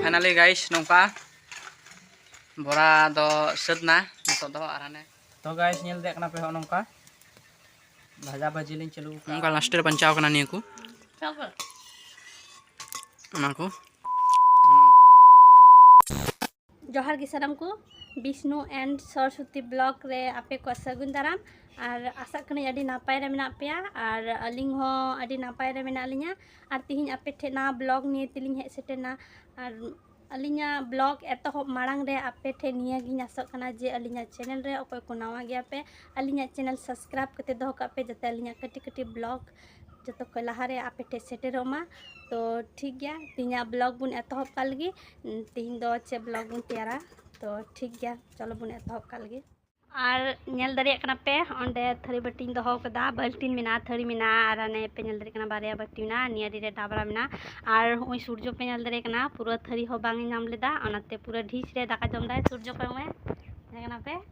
finally guys ᱱᱚᱝᱠᱟ ᱵᱚᱨᱟ ᱫᱚ ᱥᱟᱹᱛ ᱱᱟ ᱱᱤᱛᱚᱜ ᱫᱚ ᱟᱨ ᱦᱟᱱᱮ ᱛᱚ ᱜᱟᱭᱤᱥ ᱧᱮᱞ ᱫᱮᱭᱟᱜ ᱠᱟᱱᱟ ᱯᱮ ᱦᱚᱸ ᱱᱚᱝᱠᱟ ᱵᱷᱟᱡᱟ ᱵᱷᱟᱹᱡᱤ ᱞᱤᱧ ᱪᱟᱹᱞᱩ ᱠᱟᱜᱼᱟ ᱱᱚᱝᱠᱟ ᱞᱟᱥᱴ ᱨᱮ ᱵᱟᱧᱪᱟᱣ ᱠᱟᱱᱟ ᱱᱤᱭᱟᱹ ᱠᱚ ᱚᱱᱟ ᱠᱚ ᱡᱚᱦᱟᱨ ᱜᱮ ᱥᱟᱱᱟᱢ ᱠᱚ ᱵᱤᱥᱱᱩ ᱮᱱᱰ ᱥᱚᱨᱚᱥᱚᱛᱤ ᱵᱞᱚᱜ ᱨᱮ ᱟᱯᱮ ᱠᱚ ᱥᱟᱹᱜᱩᱱ ᱫᱟᱨᱟᱢ ᱟᱨ ᱟᱥᱟᱜ ᱠᱟᱹᱱᱟᱹᱧ ᱟᱹᱰᱤ ᱱᱟᱯᱟᱭ ᱨᱮ ᱢᱮᱱᱟᱜ ᱯᱮᱭᱟ ᱟᱨ ᱟᱹᱞᱤᱧ ᱦᱚᱸ ᱟᱹᱰᱤ ᱱᱟᱯᱟᱭ ᱨᱮ ᱢᱮᱱᱟᱜ ᱞᱤᱧᱟ ᱟᱨ ᱛᱤᱦᱤᱧ ᱟᱯᱮ ᱴᱷᱮᱱ ᱱᱟᱣᱟ ᱵᱞᱚᱜ ᱱᱤᱭᱮ ᱛᱮᱞᱤᱧ ᱦᱮᱡ ᱥᱮᱴᱮᱨᱱᱟ ᱟᱨ ᱟᱹᱞᱤᱧᱟᱜ ᱵᱞᱚᱜ ᱮᱛᱚᱦᱚᱵ ᱢᱟᱲᱟᱝ ᱨᱮ ᱟᱯᱮ ᱴᱷᱮᱱ ᱱᱤᱭᱟᱹ ᱜᱤᱧ ᱟᱥᱚᱜ ᱠᱟᱱᱟ ᱡᱮ ᱟᱹᱞᱤᱧᱟᱜ ᱪᱮᱱᱮᱞ ᱨᱮ ᱚᱠᱚᱭ ᱠᱚ ᱱᱟᱣᱟ ᱜᱮᱭᱟ ᱯᱮ ᱟᱹᱞᱤᱧᱟᱜ ᱪᱮᱱᱮᱞ ᱥᱟᱵᱥᱠᱨᱟᱭᱤᱵ ᱠᱟᱛᱮ ᱫᱚᱦᱚ ᱠᱟᱜ ᱯᱮ ᱡᱟᱛᱮ ᱟᱹᱞᱤᱧᱟᱜ ᱠᱟᱹᱴᱤᱡ ᱠᱟᱹᱴᱤᱡ ᱵᱞᱚᱜ ᱡᱚᱛᱚ ᱠᱷᱚᱱ ᱞᱟᱦᱟᱨᱮ ᱟᱯᱮ ᱴᱷᱮᱱ ᱥᱮᱴᱮᱨᱚᱜ ᱢᱟ ᱛᱚ ᱴᱷᱤᱠ ᱜᱮᱭᱟ ᱛᱮᱦᱮᱧᱟᱜ ᱵᱞᱚᱜ ᱵᱚᱱ ᱮᱛᱚᱦᱚᱵ ᱠᱟᱜ ᱞᱮᱜᱮ ᱛᱮᱦᱮᱧ ᱫᱚ ᱪᱮᱫ ᱵᱞᱚᱜ ᱵᱚᱱ ᱛᱮᱭᱟᱨᱟ ᱛᱚ ᱴᱷᱤᱠ ᱜᱮᱭᱟ ᱪᱚᱞᱚ ᱵᱚᱱ ᱮᱛᱚᱦᱚᱵ ᱠᱟᱜ ᱞᱮᱜᱮ ᱟᱨ ᱧᱮᱞ ᱫᱟᱲᱮᱭᱟᱜ ᱠᱟᱱᱟ ᱯᱮ ᱚᱸᱰᱮ ᱛᱷᱟᱹᱨᱤ ᱵᱟᱹᱴᱤᱧ ᱫᱚᱦᱚ ᱠᱟᱫᱟ ᱵᱟᱹᱞᱴᱤᱱ ᱢᱮᱱᱟᱜᱼᱟ ᱛᱷᱟᱹᱨᱤ ᱢᱮᱱᱟᱜᱼᱟ ᱟᱨ ᱦᱟᱱᱮ ᱯᱮ ᱧᱮᱞ ᱫᱟᱲᱮᱭᱟᱜ ᱠᱟᱱᱟ ᱵᱟᱨᱭᱟ ᱵᱟᱹᱴᱤ ᱢᱮᱱᱟᱜᱼᱟ ᱱᱤᱭᱟᱹ ᱨᱮ ᱰᱟᱵᱨᱟ ᱢᱮᱱᱟᱜᱼᱟ ᱟᱨ ᱦᱚᱸᱜᱼᱚᱭ ᱥᱩᱨᱡᱚ ᱯᱮ ᱧᱮᱞ ᱫᱟᱲᱮᱭᱟᱜ ᱠᱟᱱᱟ ᱯᱩᱨᱟᱹ ᱛᱷᱟᱹᱨᱤ ᱦᱚᱸ ᱵᱟᱝ ᱮ ᱧᱟᱢ ᱞᱮᱫᱟ ᱚᱱᱟᱛᱮ ᱯᱩᱨᱟᱹ ᱰᱷᱤᱥ ᱨᱮ ᱫᱟᱠᱟ ᱡᱚᱢ ᱫᱟᱭ ᱥᱩᱨᱡᱚ ᱠᱚᱭᱚᱜ ᱢᱮ ᱧᱮᱞ ᱠᱟᱱᱟ ᱯᱮ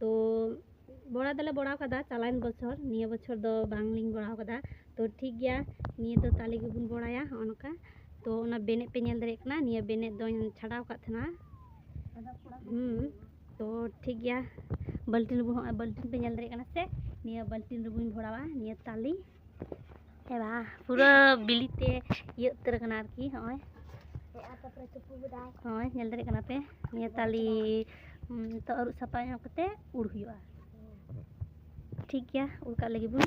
ᱛᱚ ᱵᱚᱲᱟ ᱫᱚᱞᱮ ᱵᱚᱲᱟᱣ ᱠᱟᱫᱟ ᱪᱟᱞᱟᱣᱮᱱ ᱵᱚᱪᱷᱚᱨ ᱱᱤᱭᱟᱹ ᱵᱚᱪᱷᱚᱨ ᱫᱚ ᱵᱟᱝᱞᱤᱧ ᱵᱚᱲᱟᱣ ᱠᱟᱫᱟ ᱛᱚ ᱴᱷᱤᱠ ᱜᱮᱭᱟ ᱱᱤᱭᱟᱹ ᱫᱚ ᱛᱟᱞᱮ ᱜᱮᱵᱚᱱ ᱵᱚᱲᱟᱭᱟ ᱦᱚᱸᱜᱼᱚ ᱱᱚᱝᱠᱟ ᱛᱚ ᱚᱱᱟ ᱵᱮᱱᱮᱫ ᱯᱮ ᱧᱮᱞ ᱫᱟᱲᱮᱭᱟᱜ ᱠᱟᱱᱟ ᱱᱤᱭᱟᱹ ᱵᱮᱱᱮᱫ ᱫᱚᱧ ᱪᱷᱟᱰᱟᱣ ᱠᱟᱫ ᱛᱟᱦᱮᱱᱟ ᱦᱩᱸ ᱛᱚ ᱴᱷᱤᱠ ᱜᱮᱭᱟ ᱵᱟᱹᱞᱴᱤᱱ ᱨᱮᱵᱚᱱ ᱦᱚᱸᱜᱼᱚᱭ ᱵᱟᱹᱞᱴᱤᱱ ᱯᱮ ᱧᱮᱞ ᱫᱟᱲᱮᱭᱟᱜ ᱠᱟᱱᱟ ᱥᱮ ᱱᱤᱭᱟᱹ ᱵᱟᱹᱞᱴᱤᱱ ᱨᱮᱵᱚᱱ ᱵᱷᱚᱨᱟᱣᱟ ᱱᱤᱭᱟᱹ ᱛᱟᱞᱮ ᱦᱮᱸ ᱵᱟᱝ ᱯᱩᱨᱟᱹ ᱵᱤᱞᱤᱛᱮ ᱤᱭᱟᱹ ᱩᱛᱟᱹᱨ ᱠᱟᱱᱟ ᱟᱨᱠᱤ ᱦᱚᱸᱜᱼᱚᱭ ᱦᱳᱭ ᱧᱮᱞ ᱫᱟᱲᱮᱭᱟᱜ ᱠᱟᱱᱟ ᱯᱮ ᱱᱤᱭᱟᱹ ᱛᱟᱞᱮ ᱛᱚ ᱟᱹᱨᱩᱵ ᱥᱟᱯᱷᱟ ᱧᱚᱜ ᱠᱟᱛᱮ ᱩᱲ ᱦᱩᱭᱩᱜᱼᱟ ᱴᱷᱤᱠ ᱜᱮᱭᱟ ᱩᱲ ᱠᱟᱜ ᱞᱟᱹᱜᱤᱫ ᱵᱚᱱ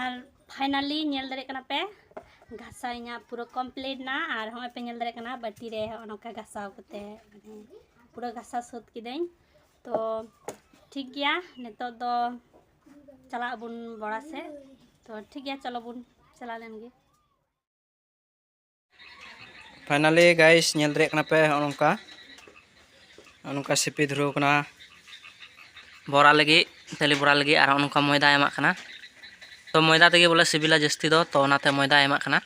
ᱟᱨ ᱯᱷᱟᱭᱱᱟᱞᱤ ᱧᱮᱞ ᱫᱟᱲᱮᱭᱟᱜ ᱠᱟᱱᱟ ᱯᱮ ᱜᱷᱟᱥᱟᱣ ᱤᱧᱟᱹᱜ ᱯᱩᱨᱟᱹ ᱠᱚᱢᱯᱞᱤᱴ ᱱᱟ ᱟᱨ ᱦᱚᱸᱜᱼᱚᱭ ᱯᱮ ᱧᱮᱞ ᱫᱟᱲᱮᱭᱟᱜ ᱠᱟᱱᱟ ᱵᱟᱹᱴᱤ ᱨᱮ ᱦᱚᱸᱜᱼᱚ ᱱᱚᱝᱠᱟ ᱜᱷᱟᱥᱟᱣ ᱠᱟᱛᱮ ᱢᱟᱱᱮ ᱯᱩᱨᱟᱹ ᱜᱷᱟᱥᱟᱣ ᱥᱟᱹᱛ ᱠᱤᱫᱟᱹᱧ ᱛᱚ ᱴᱷᱤᱠ ᱜᱮᱭᱟ ᱱᱤᱛᱚᱜ ᱫᱚ ᱪᱟᱞᱟᱜ ᱟᱵᱚᱱ ᱵᱚᱲᱟ ᱥᱮᱫ ᱛᱚ ᱴᱷᱤᱠ ᱜᱮᱭᱟ ᱪᱚᱞᱚ ᱵᱚᱱ ᱪᱟᱞᱟᱣ ᱞᱮᱱ ᱜᱮ ᱯᱷᱟᱭᱱᱟᱞᱤ ᱜᱟᱭᱤᱥ ᱧᱮᱞ ᱫᱟᱲᱮᱭᱟᱜ ᱠᱟᱱᱟ ᱯᱮ ᱱᱚᱜᱼᱚ ᱱᱚᱝᱠᱟ ᱱᱚᱜᱼᱚ ᱱᱚᱝᱠᱟ ᱥᱤᱯᱤ ᱫᱷᱩᱨᱟᱹᱣ ᱠᱟᱱᱟ ᱵᱚᱨᱟ ᱞᱟᱹᱜᱤᱫ ᱛᱟᱹᱞᱤ ᱵᱚᱨᱟ ᱞᱟᱹᱜᱤᱫ ᱟᱨ ᱱᱚᱜᱼᱚ ᱱᱚᱝᱠᱟ ᱢᱚᱭᱫᱟ ᱮᱢᱟᱜ ᱠᱟᱱᱟ ᱛᱚ ᱢᱚᱭᱫᱟ ᱛᱮᱜᱮ ᱵᱚᱞᱮ ᱥᱤᱵᱤᱞᱟ ᱡᱟᱹᱥᱛᱤ ᱫᱚ ᱛᱚ ᱚᱱᱟᱛᱮ ᱢᱚᱭᱫᱟ ᱮᱢᱟᱜ ᱠᱟᱱᱟ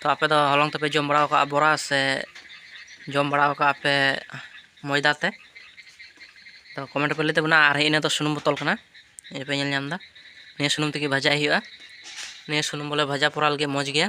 ᱛᱚ ᱟᱯᱮ ᱫᱚ ᱦᱚᱞᱚᱝ ᱛᱮᱯᱮ ᱡᱚᱢ ᱵᱟᱲᱟᱣ ᱠᱟᱜᱼᱟ ᱵᱚᱨᱟ ᱥᱮ ᱡᱚᱢ ᱵᱟᱲᱟᱣ ᱠᱟᱜᱼᱟ ᱯᱮ ᱢᱚᱭᱫᱟ ᱛᱮ ᱛᱚ ᱠᱚᱢᱮᱱᱴ ᱯᱮ ᱞᱟᱹᱭ ᱛᱟᱵᱚᱱᱟ ᱟᱨ ᱤᱱᱟᱹ ᱫᱚ ᱥᱩᱱᱩᱢ ᱵᱚᱛᱚᱞ ᱠᱟᱱᱟ ᱱᱤᱭᱟᱹ ᱯᱮ ᱧᱮᱞ ᱧᱟᱢᱫᱟ ᱱᱤᱭᱟᱹ ᱥᱩᱱᱩᱢ ᱛᱮᱜᱮ ᱵᱷᱟᱡᱟᱭ ᱦᱩᱭᱩᱜᱼᱟ ᱱᱤᱭᱟᱹ ᱥᱩᱱᱩᱢ ᱵᱚᱞᱮ ᱵᱷᱟᱡᱟ ᱯᱚᱨᱟᱣ ᱞᱟᱹᱜᱤᱫ ᱢᱚᱡᱽ ᱜᱮᱭᱟ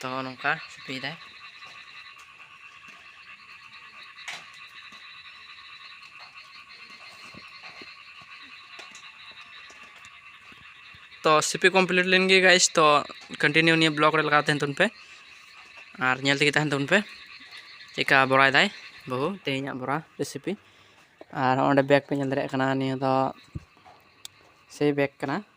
ᱛᱚ ᱱᱚᱝᱠᱟ ᱥᱤᱯᱤᱭᱮᱫᱟᱭ ᱛᱚ ᱥᱤᱯᱤ ᱠᱚᱢᱯᱞᱤᱴ ᱞᱮᱱ ᱜᱮ ᱜᱟᱭᱤᱥ ᱛᱚ ᱠᱚᱱᱴᱤᱱᱤᱭᱩ ᱱᱤᱭᱟᱹ ᱵᱞᱚᱜ ᱨᱮ ᱞᱟᱜᱟᱣ ᱛᱟᱦᱮᱱ ᱛᱟᱵᱚᱱ ᱯᱮ ᱟᱨ ᱧᱮᱞ ᱛᱮᱜᱮ ᱛᱟᱦᱮᱱ ᱛᱟᱵᱚᱱ ᱯᱮ ᱪᱮᱫᱠᱟ ᱵᱚᱨᱟᱭᱮᱫᱟᱭ ᱵᱟᱹᱦᱩ ᱛᱮᱦᱮᱧᱟᱜ ᱵᱚᱨᱟ ᱨᱮᱥᱤᱯᱤ ᱟᱨ ᱚᱸᱰᱮ ᱵᱮᱜᱽ ᱯᱮ ᱧᱮᱞ ᱫᱟᱲᱮᱭᱟᱜ ᱠᱟᱱᱟ ᱱᱤᱭᱟᱹ ᱫᱚ ᱥᱮ ᱵᱮᱜᱽ ᱠᱟᱱᱟ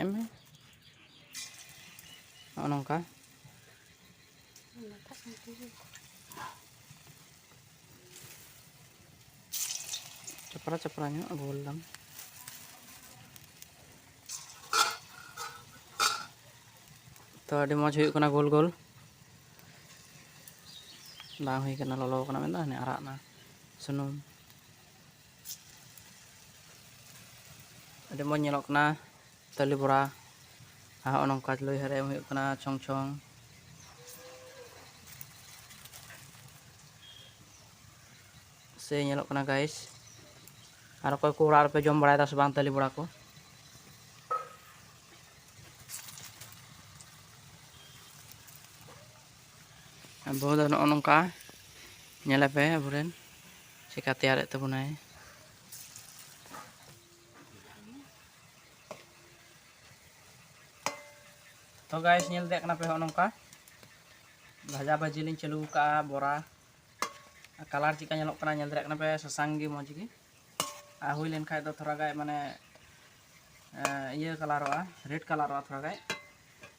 ᱮᱢ ᱢᱮ ᱱᱚᱜᱼᱚ ᱱᱚᱝᱠᱟ ᱪᱟᱯᱨᱟ ᱪᱟᱯᱨᱟ ᱧᱚᱜ ᱜᱳᱞ ᱫᱟᱢ ᱛᱚ ᱟᱹᱰᱤ ᱢᱚᱡᱽ ᱦᱩᱭᱩᱜ ᱠᱟᱱᱟ ᱜᱳᱞ ᱜᱳᱞ ᱵᱟᱝ ᱦᱩᱭ ᱠᱟᱱᱟ ᱞᱚᱞᱚ ᱠᱟᱱᱟ ᱢᱮᱱᱫᱟ ᱦᱟᱱᱮ ᱟᱨᱟᱜ ᱱᱟ ᱥᱩᱱᱩᱢ ᱟᱹᱰᱤ ᱢᱚᱡᱽ ᱧᱮᱞᱚᱜ ᱠᱟᱱᱟ ᱛᱟᱹᱞᱤ ᱵᱚᱨᱟ ᱟᱨ ᱦᱚᱸᱜᱼᱚ ᱱᱚᱝᱠᱟ ᱞᱩᱭ ᱦᱟᱨ ᱮᱢ ᱦᱩᱭᱩᱜ ᱠᱟᱱᱟ ᱪᱷᱚᱝ ᱪᱷᱚᱝ ᱥᱮ ᱧᱮᱞᱚᱜ ᱠᱟᱱᱟ ᱜᱟᱭᱤᱥ ᱟᱨ ᱚᱠᱚᱭ ᱠᱚ ᱚᱲᱟᱜ ᱨᱮᱯᱮ ᱡᱚᱢ ᱵᱟᱲᱟᱭᱮᱫᱟ ᱥᱮ ᱵᱟᱝ ᱛᱟᱹᱞᱤ ᱵᱚᱲᱟ ᱠᱚ ᱟᱵᱚ ᱫᱚ ᱱᱚᱜᱼᱚ ᱱᱚᱝᱠᱟ ᱧᱮᱞᱮᱯᱮ ᱟᱵᱚᱨᱮᱱ ᱪᱮᱠᱟ ᱛᱮᱭᱟᱨᱮᱫ ᱛᱟᱵᱚᱱᱟᱭ ᱛᱚ ᱜᱟᱭᱥ ᱧᱮᱞ ᱫᱮᱭᱟᱜ ᱠᱟᱱᱟ ᱯᱮ ᱦᱚᱸ ᱱᱚᱝᱠᱟ ᱵᱷᱟᱡᱟ ᱵᱷᱟᱹᱡᱤ ᱞᱤᱧ ᱪᱟᱹᱞᱩ ᱠᱟᱜᱼᱟ ᱵᱚᱨᱟ ᱠᱟᱞᱟᱨ ᱪᱮᱠᱟ ᱧᱮᱞᱚᱜ ᱠᱟᱱᱟ ᱧᱮᱞ ᱫᱟᱲᱮᱭᱟᱜ ᱠᱟᱱᱟ ᱯᱮ ᱥᱟᱥᱟᱝ ᱜᱮ ᱢᱚᱡᱽ ᱜᱮ ᱟᱨ ᱦᱩᱭ ᱞᱮᱱ ᱠᱷᱟᱡ ᱫᱚ ᱛᱷᱚᱲᱟ ᱜᱟᱱ ᱢᱟᱱᱮ ᱤᱭᱟᱹ ᱠᱟᱞᱟᱨᱚᱜᱼᱟ ᱨᱮᱰ ᱠᱟᱞᱟᱨᱚᱜᱼᱟ ᱛᱷᱚᱲᱟ ᱜᱟᱱ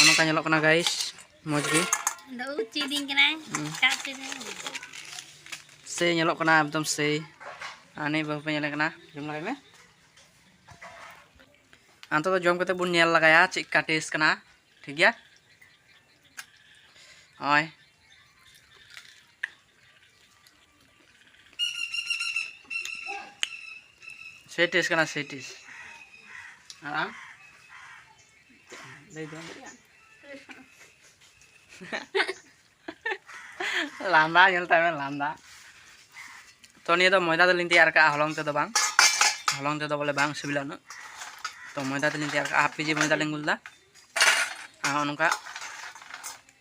ᱚᱱᱟ ᱠᱟ ᱧᱮᱞᱚᱜ ᱠᱟᱱᱟ ᱜᱟᱭᱤᱥ ᱢᱚᱡᱽ ᱜᱮ ᱫᱚ ᱩᱪᱤ ᱫᱤᱝ ᱠᱟᱱᱟ ᱪᱟᱥ ᱫᱤᱝ ᱥᱮ ᱧᱮᱞᱚᱜ ᱠᱟᱱᱟ ᱮᱠᱫᱚᱢ ᱥᱮ ᱟᱱᱮ ᱵᱟᱹᱦᱩ ᱯᱮ ᱧᱮᱞ ᱠᱟᱱᱟ ᱡᱚᱢ ᱞᱟᱜᱟᱭ ᱢᱮ ᱟᱱᱛᱚ ᱫᱚ ᱡᱚᱢ ᱠᱟᱛᱮ ᱵᱚᱱ ᱧᱮᱞ ᱞᱟᱜᱟᱭᱟ ᱪᱮᱫ ᱠᱟ ᱴᱮᱥᱴ ᱠᱟᱱᱟ ᱴᱷᱤᱠ ᱜᱮᱭᱟ ᱦᱳᱭ ᱥᱮᱴᱤᱥ ᱠᱟᱱᱟ ᱥᱮᱴᱤᱥ ᱟᱨ ᱟᱢ ᱞᱟᱹᱭ ᱫᱚᱢ ᱞᱟᱸᱫᱟ ᱧᱮᱞ ᱛᱟᱭ ᱢᱮ ᱞᱟᱸᱫᱟ ᱛᱚ ᱱᱤᱭᱟᱹ ᱫᱚ ᱢᱚᱭᱫᱟ ᱫᱚᱞᱤᱧ ᱛᱮᱭᱟᱨ ᱠᱟᱜᱼᱟ ᱦᱚᱞᱚᱝ ᱛᱮᱫᱚ ᱵᱟᱝ ᱦᱚᱞᱚᱝ ᱛᱮᱫᱚ ᱵᱚᱞᱮ ᱵᱟᱝ ᱥᱤᱵᱤᱞᱟ ᱩᱱᱟᱹᱜ ᱛᱚ ᱢᱚᱭᱫᱟ ᱛᱮᱞᱤᱧ ᱛᱮᱭᱟᱨ ᱠᱟᱜᱼᱟ ᱦᱟᱯ ᱠᱮᱡᱤ ᱢᱚᱭᱫᱟ ᱞᱤᱧ ᱜᱩᱞᱫᱟ ᱟᱨ ᱱᱚᱝᱠᱟ